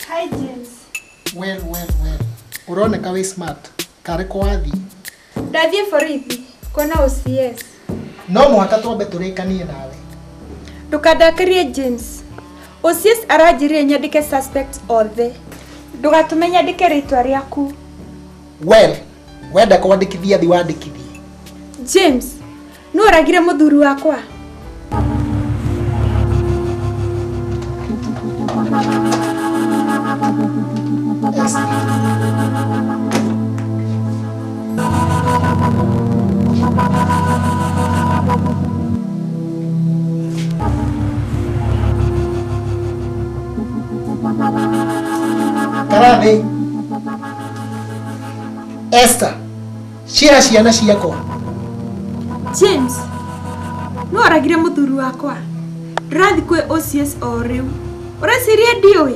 Hi James. Well, well, well. Uroneka wĩ smart. Tarĩ kwa wathi. Ndathiĩ borithi kuona OCS. No mũhaka twambe tũrĩkanie nawe. Ndũkandakarie James. Osies aranjĩrire nyandĩke suspect othe. Ndũgatũme nyandĩke rĩtwa rĩaku. Well, wenda kwandĩkithia thi wandĩkithie. James, nũ ũragire mũthuri wakwa? Thank you. Karame. Esther. Ciĩra ciana ciakwa. James. No aragire mũthuri wakwa. Ndĩrathiĩ kwĩ OCS o rĩu. Ũreciria ndiũĩ?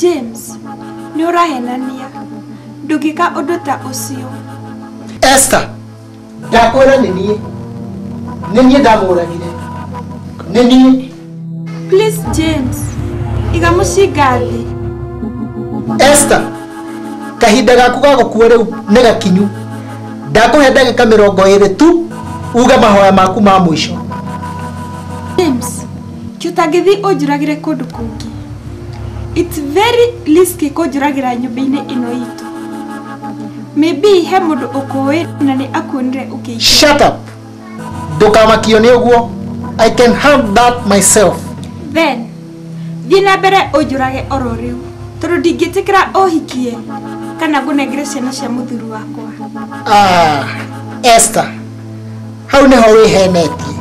james nĩ ũrahenania ndũngĩka ũndũ ta ũcio esther ndakwĩra nĩ niĩ nĩ niĩ ndamũragire nĩ niĩ please james iga mũcinga thĩ esther kahinda gaku ga gũkua rĩu nĩ gakinyu ndakũhe ndagĩka mĩrongo ĩrĩ tu uge mahoya maku ma mũico James, kĩ ũtangĩthiĩ ũnjũragĩre kũndũ kũngĩ. It's very risky kũnjũragĩra nyũmba-inĩ ĩno itũ. Maybe he mũndũ ũkũĩ na nĩ akuonire ũkĩingĩra. Shut up. ndũkamakio nĩ ũguo i can have that myself then thiĩ na mbere ũnjũrage oro rĩu tondũ ndingĩtĩkĩra ũhikie kana ngũnengere ciana cia mũthuri wakwa ah, esther hau nĩho wĩhenetie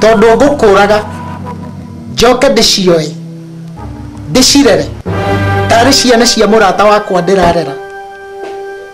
tondũ ngũkũraga njoke ndĩcioe ndĩcirere tarĩ ciana cia mũrata wakwa ndĩrarera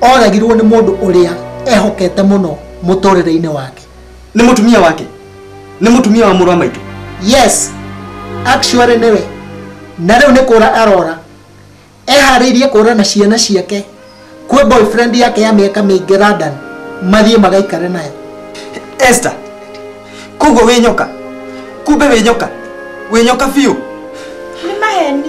oragirwo nĩ mũndũ ũrĩa ehokete mũno mũtũrĩre-inĩ wake nĩ mũtumia wake nĩ mũtumia wa mũrũ wa maitũ yes actually nĩwe na rĩu nĩ kũra arora eharĩirie kũra na ciana ciake kwĩ boyfriend yake ya mĩaka mĩingĩ London mathiĩ magaikare nayo Esther koguo wĩ nyoka kumbe wĩ nyoka wĩ nyoka biũ nĩ maheni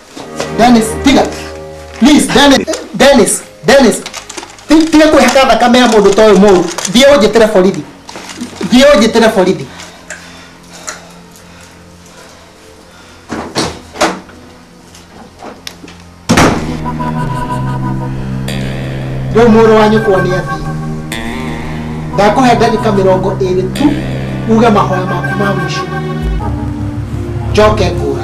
Dennis, tiga. Please, Dennis, Dennis, Dennis. Ti- Tiga kwĩhaka thakame ya mũndũ ta ũyũ mũru. Thiĩ ũnjĩtĩre borithi. Thiĩ ũnjĩtĩre borithi. Rĩu mũrũ wa nyũkwa nĩ athiĩ. Ndakũhe ndagĩka mĩrongo ĩrĩ tu uge mahoya maku ma mũico. Njoke ngũra.